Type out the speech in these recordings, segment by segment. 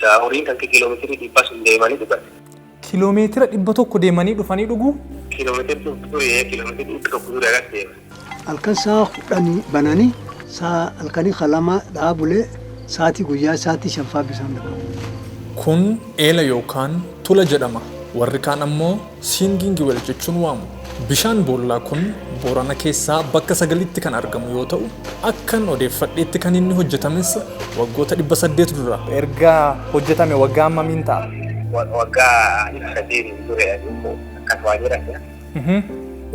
Horiin kanke kilomeetirii dhibba sun deemanii dhugan. Kilomeetira dhibba tokko deemanii dhufanii dhugu? Kilomeetira dhibba ture ee kilomeetira dhibba tokko ture agas deema. Halkan saa kudhanii bananii saa halkanii ka lamaa dhaa bulee saatii guyyaa saatii shan faa bisaan dhaban. Kun eela yookaan tula jedhama. Warri kaan ammoo. Singing well jechuun waamu. Bishaan boollaa kun Boorana keessaa bakka sagalitti kan argamu yoo ta'u, akkan odeeffadheetti kan inni hojjetames waggoota 800 dura. Erga hojjetame waggaa hammamiin ta'a? Waggaa 300 dura jedhu akkas waan jedhan jira.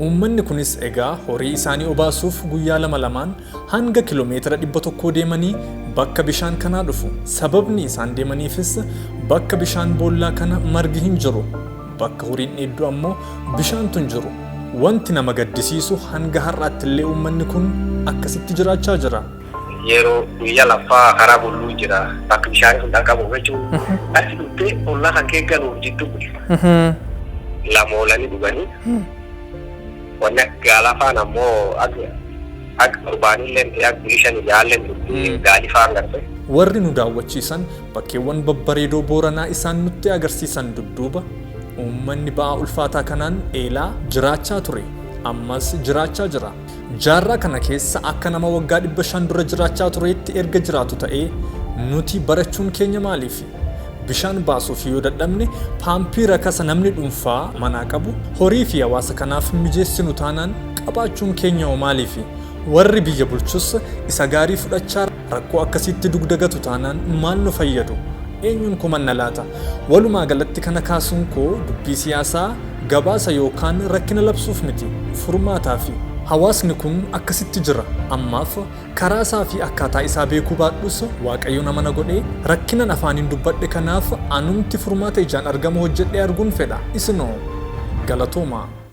Uummanni kunis egaa horii isaanii obaasuuf guyyaa lama lamaan Hanga kilomeetira 100 deemanii bakka bishaan kanaa dhufu. Sababni isaan deemaniifis bakka bishaan boollaa kana margi hin jiru. Bakka horiin dheeddu ammoo bishaantu hin jiru. Wanti nama gaddisiisu hanga har'aattillee uummanni kun akkasitti jiraachaa jira. Yeroo guyyaa laffaa karaa bulluun jira. Bakka bishaanii sun dhaqqabuuf jechuun achi dhuftee ollaa kan kee galuuf jidduu bu'e. Lama oolanii dhuganii. Wanni gaal hafaan ammoo ag torbaanilleen ti ag bulii shani ja'alleen turti gaali faan garte. Warri nu daawwachiisan bakkeewwan babbareedoo Booranaa isaan nutti agarsiisan dudduuba uummanni ba'aa ulfaataa kanaan eelaa jiraachaa ture ammas jiraachaa jira. Jaarraa kana keessa akka nama waggaa 500 dura jiraachaa tureetti erga jiraatu ta'ee nuti barachuun keenya maaliifi? Bishaan baasuuf yoo dadhabne paampii rakasa namni dhunfaa manaa qabu horii fi hawaasa kanaaf hin mijeessinu taanaan qabaachuun keenya hoo maaliifi? Warri biyya bulchus isa gaarii fudhachaa rakkoo akkasiitti dugda gatu taanaan maal nu fayyadu? Eenyuun komanna laata? Walumaa galatti kana kaasuun koo dubbii siyaasaa gabaasa yookaan rakkina labsuuf miti. Furmaataa fi. Hawaasni kun akkasitti jira. Ammaaf Karaa isaa fi akkaataa isaa beekuu baadhus, Waaqayyo nama na godhe, rakkinan afaaniin dubbadhe kanaaf anumti furmaata ijaan argamu hojjedhee arguun fedha. Isinoo? Galatoomaa!